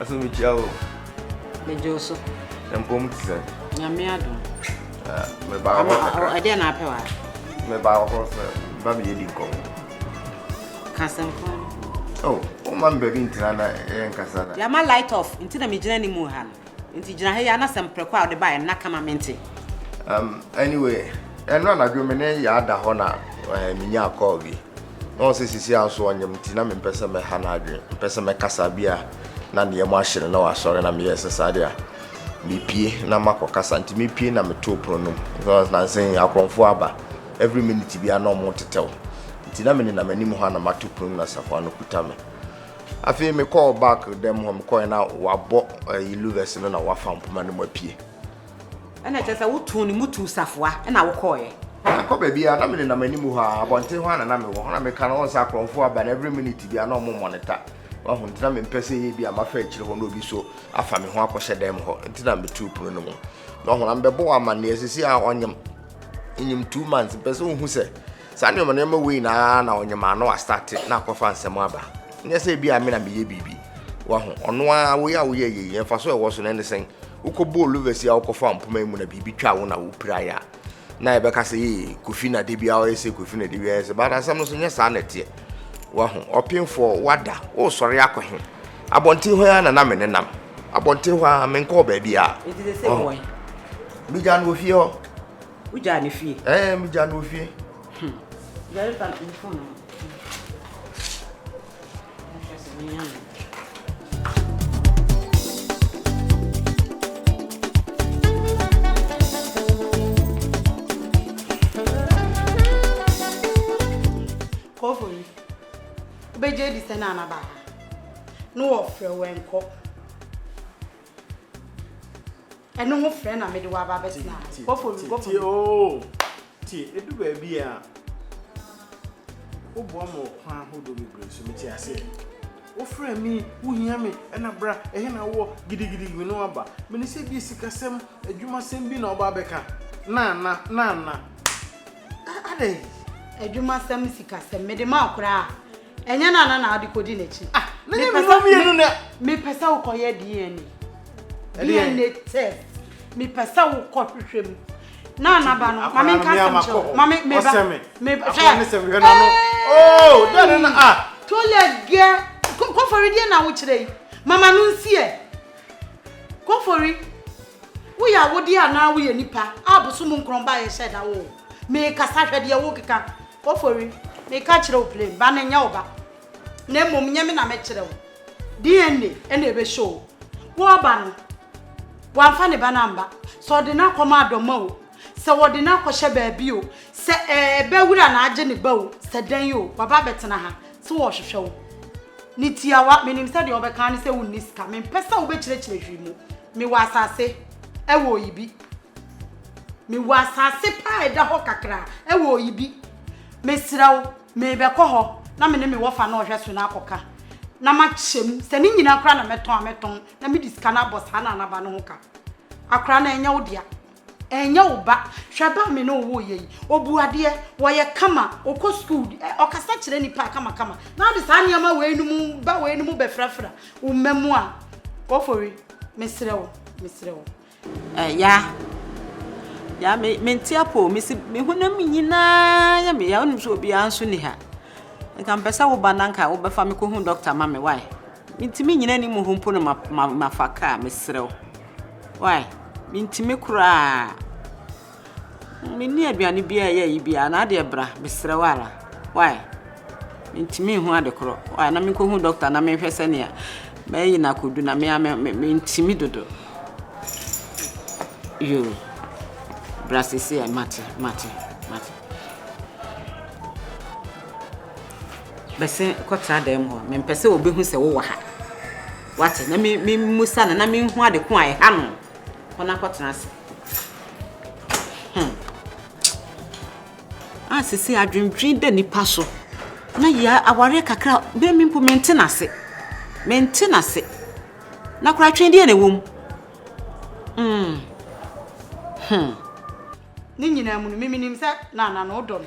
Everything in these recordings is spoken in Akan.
Aso mi kyia o. Me jo so. Mpom ti sɛ. Nyame adom. Ah, me ba ho kakra. Ɛdeɛ na apɛ wa. Me ba ho sɛ ba bi yɛdi nkɔm. Kasɛm fo. Oh, o ma me baabi ntira na ɛyɛ nkasa na. Yama light off, nti na me gyina ne mu ha no. Nti gyina ha yi ara na sɛ mprɛko a ɔde baeɛ na ka ma mente. Um, anyway, ɛno anadwo me ne Yaa da hɔ na eh, menyaa call bi. Na wɔn sɛ sisi a so ɔnyem nti na mempɛ sɛ mɛha n'adwene, mpɛ sɛ mɛkasa bi a na nneɛma ahyere na wasɔre na meyɛɛ sɛ saa de a mepie na makɔ kasa nti mepie na metoo pono no mu. Nansa yi akorɔmfoɔ aba, every minute biara na wɔn tetɛw nti na menenam anim hɔ a na mato pono mu na safoa no kuta me. Afei me kɔɔ back dɛm hɔ me kɔɛ na wabɔ ɛyi eh, luvɛs no na wafa mpoma no mu apue. Ɛna kyerɛ sɛ wotoo ne mu tuu safoa ɛna wokɔɔyɛ. Ɛkɔ baabi a na me nenam anim hɔ a abɔnten hɔ a na na me wɔ hɔ na meka no ɔnsa akorɔmfo aba na every minute bi a na ɔmo monitor wahu nti na mempɛ sɛ yɛ bi a mafa akyire hɔ na obi so afa me ho akɔhyɛ dɛm hɔ nti na metuu pono no mu na ɔho na mebɛbɔ wɔ amanneɛ sisi a ɔnyem nyem two months mpɛ sɛ ohu sɛ Saa nneɛma nneɛma wei na ara na ɔnyamaano astate na akɔfa nsɛm aba. Nyɛ sɛ ebi a me na meyɛ biribi. Wahu? Ɔno ara, wo yɛ a woyɛɛ yɛ yi, mfaso a ɛwɔ so no, ɛne sɛn? Wokɔbɔɔ louvers yi a wokɔfaa mpoma yi mu na biribi twaa wo na wopirae a, na yɛbɛka sɛ, ee, Kofi na da biara ɔyɛ sei, Kofi na da biara ɔyɛ sei. But asɛm no nso, nyɛ saa na ɛteɛ. Wahu? Ɔpemfoɔ, woada, woresɔre akɔ he? Abɔnten hɔ yi ara na na menenam. Abɔnten hɔ ara, menkɔɔ baabiara. Ɔho? Migyaa no wɔ fie hɔ. Wo gyaa ne fie? Ɛɛ, eh, me gyaa no ofie. Hmm. Yɛre ba no fon no. Nhwɛ sɛ menya no. Kɔfo yi, wobɛgye adi sɛ na anaba ha. Na wɔfrɛ wɛnkɔ. Ɛno ho frɛ na mede waba bɛtena ha. Go for me, go for me. Oo, tie, edu baabi a woboa ma ɔkwan ahodoɔ bebree so mete aseɛ. Wofrɛ me, wohia me, ɛna bra, ɛhe na wowɔ, gidigidi me ne waba. Mene sɛ bi sikasɛm, adwumasɛm bi na woba abɛka. Na, na, na, na. Adɛn? Adwumasɛm, sikasɛm, mede ma wo koraa. Ɛnyɛ na na na ade kodi n'akyi. Ah, mene mene wɔn mmienu na. Mepɛ sɛ wokɔyɛ DNA. DNA test. Mepɛ sɛ wokɔ hwehwɛ mu. Na na ba no, maame nka asɛm kyerɛ. Maame meba. Meba. Akwa ne sɛ hwehwɛ na no. Oh, dɛn na ah. Toilet gɛ. Kɔfɔre deɛ na wokyerɛ yi. Mama no nsiɛ. Kofori, woyɛ awodeɛ anaa woyɛ nipa a bosom nkorɔn ba yɛ hyɛ da wo o. Meekasa hwɛ deɛ wokeka. Kofori, meka kyerɛ wo plain, ba no nyɛ wo ba. Na mmom nyɛ me na mɛkyerɛ wo. DNA ɛna ɛbɛ show wo. Wo ɔba no, wamfa ne ba no amba. Sɛ ɔde no akɔma adɔma o. Sɛ wɔde no akɔhyɛ baabi o, sɛ ɛɛ bɛ wura na agye ne ba o, sɛ dɛn o, waba abɛtena ha, so wɔrehwehwɛ wo. Ne tiawa, menim sɛ deɛ wɔbɛka ara ne sɛ wonni sika, mempɛ sɛ wobɛkyerɛkyerɛ hwee mu. Mewɔ asase wɔ Oyibi. Mewɔ asase pa a ɛda hɔ kakraa wɔ Oyibi. Mesrɛ wo, merebɛkɔ hɔ na me ne me wɔfa no a ɔhwɛ so no akɔka, na makyɛ mu. Sɛ ne nyinaa koraa na mɛtɔn a, mɛtɔn, na mede sika no abɔ saa Nanaba no ho ka. Akwadaa no, ɛnyɛ wo dea. Ɛnyɛ wo ba. Hwɛ ba a me ne wo woeɛ yi. Ɔbu adeɛ, ɔyɛ kama, ɔkɔ sukuu, ɔkasa kyerɛ nnipa kamakama. Na wode saa nneɛma weinom, ba weinom bɛfrafra wo mma mu a, Ofori, mesrɛ wo, mesrɛ wo. Ɛɛ, ya. Ya, me, mente apɔ o. Mese me honam nyinaa yɛ me ya. Wonim sɛ obiara nso nni ha. Nka mepɛ sɛ wo ba na nka wobɛfa me kɔhu dɔkta ma me, wai? Mentumi nyina ani mu hɔ mpo na mafa kaa, meserɛ wo. Wai, mentumi koraa. Menni aduane biara a ɛyɛ ayi biara, na adeɛ bra, meserɛ wo ara. Wai, mentumi nhu ade korɔ. Wai, na menkɔhu dɔkta na menhwɛ sɛdeɛ mayi no akɔdu na me ara mentumi dodo. Yoo, bra seisei a mate, mate, mate. Bɛse kɔtra dan mu hɔ. Mempɛ sɛ obehu sɛ wowɔ ha. Woate? Na mimmusa no na minhu ade ko a ɛha no. Kɔ na kɔtena ase. Hmm. A sisi adwendwen da nipa so. Na yɛ awareɛ kakra, bɛn mi mpo mente n'ase. Mente n'ase. Na koraa twen deɛ na ɛwɔ mu. Hmm. Hmm. Ne nyinaa mu no, miminim sɛ na na na wodɔ no.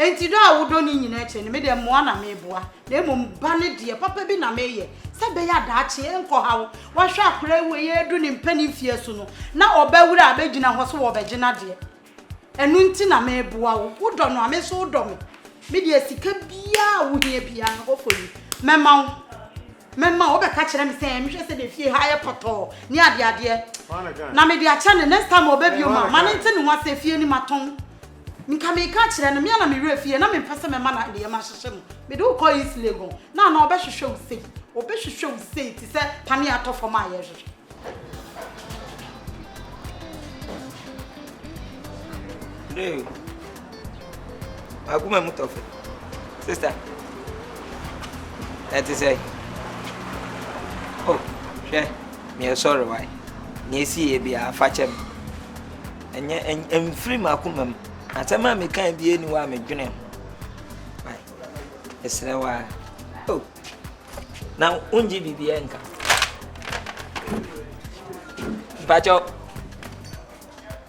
Enti dɔ a wodɔ no nyinaa akyi no, me deɛ mmoa na mereboa, na mmom ba no deɛ, papa bi na mereyɛ, sɛ ɛbɛyɛ a daakye ɛrenkɔha wo. Woahwɛ akwadaa yi wei redu ne mpanin mfeɛ so no, na ɔba wura a abɛgyina hɔ sɛ wɔrebɛgye n'adeɛ. Ɛno nti na mereboa wo. Wodɔ no a, me nso wodɔ me. Me deɛ sika biara a wohia biara, kɔkɔ yi, mɛma wo. Mɛma wo. Wobɛka kyerɛ me sɛ, mehwɛ sɛ deɛ fie ha yɛ pɔtɔɔ ne adeadeɛ. Na mede akyɛ no, next time ɔba bio ma, ma no nte ne ho asɛ, fie no matɔn. Nka mereka akyerɛ no, me ara na me werɛ fi yɛ, na mempɛ sɛ mɛma no nneɛma ahyehyɛ mu. Mede wo kɔɔ East Legon, na anaa ɔbɛhwehwɛ wo sei? Ɔbɛhwehwɛ wo sei te sɛ panneɛ a atɔ fam a yɛrehwehwɛ. Hey, akoma mu tɔ fɛ. Sista, ɛte sɛ. Oh, hwɛ, meɛ sɔre wae. Nea ɛsi yɛ biara, fa kyɛ me. Ɛnyɛ, ɛmfiri m'akoma mu. Asɛm a mekae biara ni hɔ a medwene ho. Ɛsrɛ wo ara. Oh. Na wongye biribiara nka. Mpakyɛw,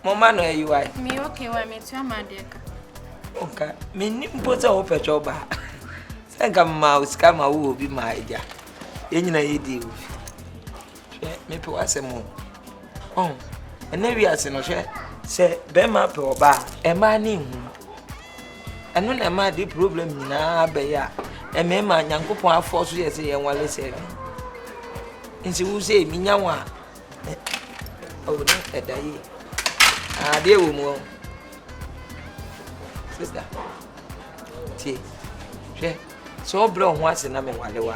moma no ayiwae. Me okay wa metua m'adeɛ ka. Nka menni mpo sɛ wopɛ twɛ ɔbaa. Sɛ nka mmaa wo sika ma wowɔ bi maa agya. Yɛn nyina yɛdii wo fi. Hwɛ, mepɛ w'asɛm o. Ɔn, ɛnɛ wiase no hwɛ, sɛ bɛrima pɛ ɔbaa, ɛmaa ne nhu. Ɛno na ɛmaa de problem nyinaa bɛyɛ a, ɛmɛɛma Nyankopɔn afɔ so yɛ sɛ yɛn wale sɛɛdɛn. Nti wo sɛ mi nya wɔn a, ɔwɔ oh, ne ɛda yie. Adeɛ wɔ mu ɔ. Sista, tie, hwɛ, sɛ ɔbrɛ ɔho ase na mewale wa.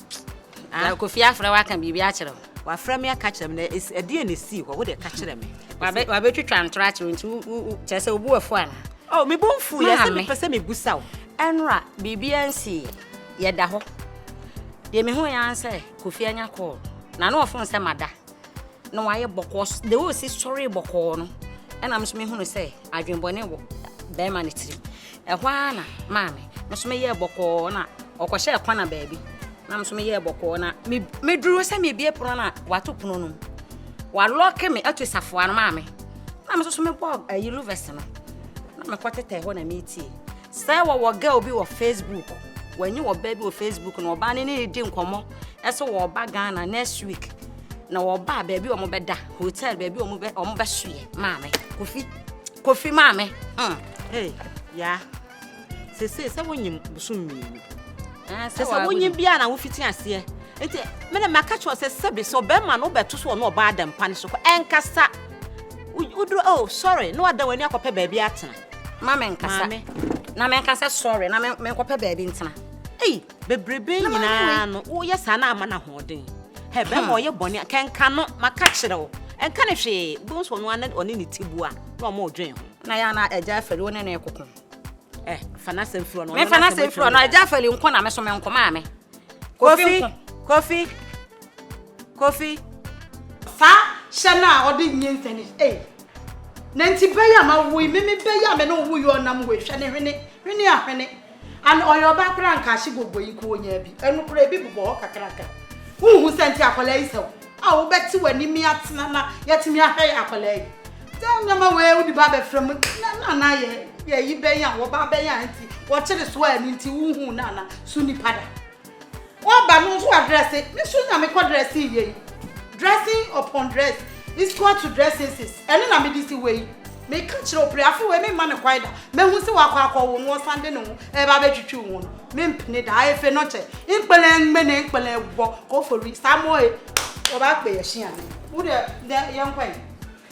Ah, Kofi afrɛ waka biribi akyerɛ wo. Wafrɛ me aka kyerɛ me na esi ɛdeɛ na esii hɔ, wo deɛ ka kyerɛ me. Wabe wabɛtwitwa ntorɔ akyerɛ wo nti wo wo kyerɛ sɛ obu afu ana? Oh, me bo nfu yɛ sɛ Maame. mepɛ sɛ mebusa wo. Ɛnora biribiara nsii yɛda hɔ. Deɛ mehu yɛ ara ne sɛ Kofi anya call na na ɔfon sɛ mada. na wayɛ bɔkɔɔ s- the way osi sɔree bɔkɔɔ no ɛna me nso mehunu sɛ adwenbɔne wɔ bɛrima no tirim ɛhɔ ara na maa me me nso meyɛɛ bɔkɔɔ na ɔkɔhyɛɛ kɔna baabi na me nso meyɛɛ bɔkɔɔ na me- meduru sɛ mebie pono no a wato pono no mu walɔke me ato safoa no maa me na me nso so mebɔɔ ayi luvɛs no na mekɔtetɛɛ hɔ na metie Sɛ wɔwɔ girl bi wɔ Facebook, wɔnye wɔba bi wɔ Facebook na wɔba ne ne redi nkɔmmɔ sɛ wɔba Ghana next week na wɔba baabi wɔn bɛda hotel baabi wɔn bɛ wɔn bɛsoɛ maame kofi kofi maame. Hmm. Hey, yaa sese sɛ wonyim bosom mmienu ah, sɛ sɛ wonyim bia na wofiti aseɛ nti mene maka kyerɛ sɛ sɛbi sɛ ɔbɛrima no wobɛto so ɔno ɔbaa adampa no so kɔ ɛnkasa woduro oh sorry na wada w'ani akɔpɛ baabi atena ma me nkasa na me nkasa sɔre na me nkɔpɛ baabi ntena ei bebrebe nyinaa no woyɛ saa na ama no ahoɔden hɛ bɛma hmm. ɔyɛ bɔne kɛnka no maka kyerɛ wo ɛnka ne hwee bohu so ɔno ana ɔne ne tibua na ɔma ɔdwen ho na yɛ ana agya afɛli wo ne no ɛkoko ɛ fa no asɛm firi ɔno mefa no asɛm firi ɔno agya afɛli nko na me so me nko maa me kofi kofi kofi saa hyɛ no a ɔde nyɛ nsɛne ei Na nti bɛyɛ a mawoi me me bɛyɛ a me ne wo yɔɔ nam wei hwɛ ne hwene hwene a hwene and ɔyɛ ɔbaa koraa nka ahye bɔbɔ yi nka ɔnyaa bi ɛno koraa ebi bobɔ hɔ kakraka wohu sɛ nti akwadaa yi sɛ wo a wobɛte w'ani mi atena na yɛatumi ahwɛ yɛ akwadaa yi sɛ nneɛma wei wode ba abɛfrɛ mu na na na yɛ yɛyi bɛn a wɔba bɛn a nti wɔkyere so a ɛno nti wohu na na so nipa da Woaba no nso adrɛse, me nso na mekɔ dressing yei. Dressing upon dress is equal to dressinses, ɛno na mede si hɔ yi. Meka kyerɛ wo, Priafe wei memma no kwan da, mahu sɛ wakɔ akɔwo no, ɔsan de ne ho ɛreba abɛtwitwi wo ho no, mempene da. Efe no kyɛ, nkpele ngbene nkpele wɔ kofori, saa mo he, wɔba akpɛ yɛ hyeane. Wo deɛ, nɛ yɛnkɔ he?